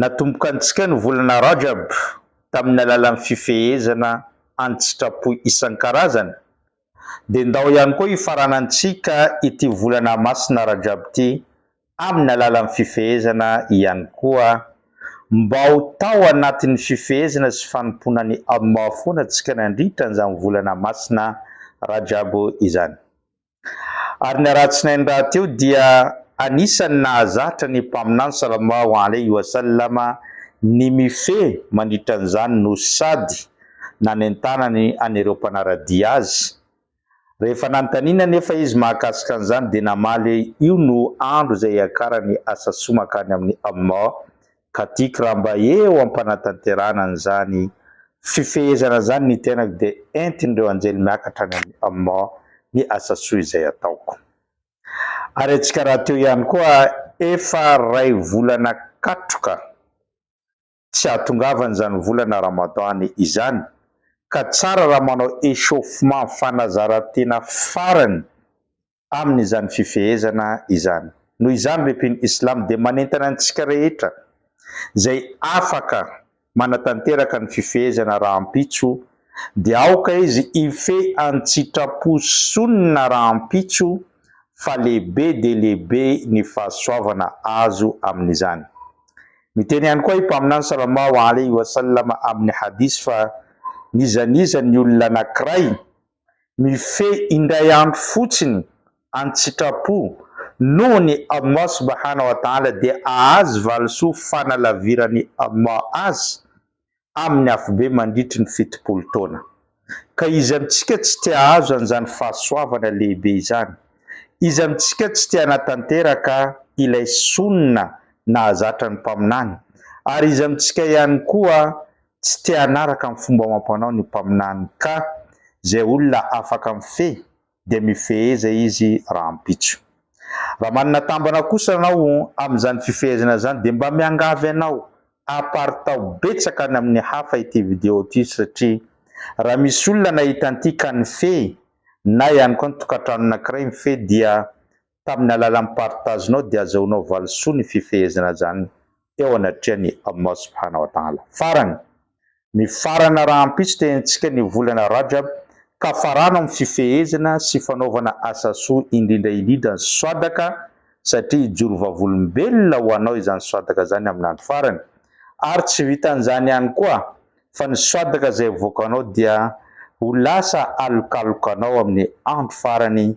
Natomboka antsika ny volana Rajab tamin'ny alalan'ny fifehezana an-tsitrapo isan-karazany, dia ndao ihany koa hifaranantsika ity volana masina Rajab ity amin'ny alalan'ny fifehezana ihany koa, mba ho tao anatin'ny fifehezana sy fanompoana an'i Allah foana tsika nandritra an'izany volana masina Rajab izany. Ary ny alatsinainy rahateo dia anisan'ny nahazatra ny Mpaminany Salallahu alaihi wa sallam ny mifehy mandritra an'izany no sady nanentanany an'ireo mpanara-dia azy. Rehefa nanontaniana anefa izy mahakasika an'izany dia namaly hoe io no andro izay hiakarany asa soa mankany amin'i Allah ka tiako raha mba eo am-panatanterahana an'izany fifehezana izany ny tenako dia entin'ireo anjely miakatra any amn ny asa soa izay ataoko. Ary antsika rahateo ihany koa efa ray volana katroka tsy ahatongavan'izany volana Ramadan izany ka tsara raha manao échauffement, fanazarantena farany, amin' izany fifehezana izany. Noho izany, ry mpino islamo dia manentana antsika rehetra izay afaka manatanteraka ny fifehezana rahampitso dia aoka izy hifehy an-tsitrapo Sunnah rahampitso fa lehibe dia lehibe ny fahasoavana azo amin' izany. Miteny ihany koa i Mpaminany sallallahu alaihi wa sallam amin' ny hadis fa N'iza n'iza ny olona anankiray mifehy indray andro fotsiny an-tsitrapo noho ny Allah subahana wa taala dia ahazo valisoa fanalaviran'i Allah azy amin'ny afobe mandritry ny fitopolo taona. Ka iza amintsika tsy te ahazo an'izany fahasoavana lehibe izany? Iza amintsika tsy te hanatanteraka ilay Sunnah nahazatra ny Mpaminany? Ary iza amintsika ihany koa tsy te hanaraka ny fomba amam-panao ny mpaminany ka izay olona afaka mifehy dia mifeheza izy rahampitso. Raha manana tambana kosa ianao amin'izany fifehezana izany dia mba miangavy anao haparitaho betsaka any amin'ny hafa ity video ity satria raha misy olona nahita an'ity ka nifehy na ihany koa ny tokantrano anankiray mifehy dia Tamin'ny alalan'ny partage-nao dia azahoanao valisoa ny fifehezana izany eo anatrehan'i Allah Subhanahu wa Ta'ala. Farany, mifarana rahampitso tenintsika ny volana Rajab ka farano amin'ny fifehezana sy fanaovana asa soa indrindra indrindra ny swadaka satria hijoro vavolombelona ho anao izany swadaka izany amin'ny andro farany ary tsy vitan'izany ihany koa fa ny swadaka izay avoakanao dia ho lasa alokalokanao amin'ny andro farany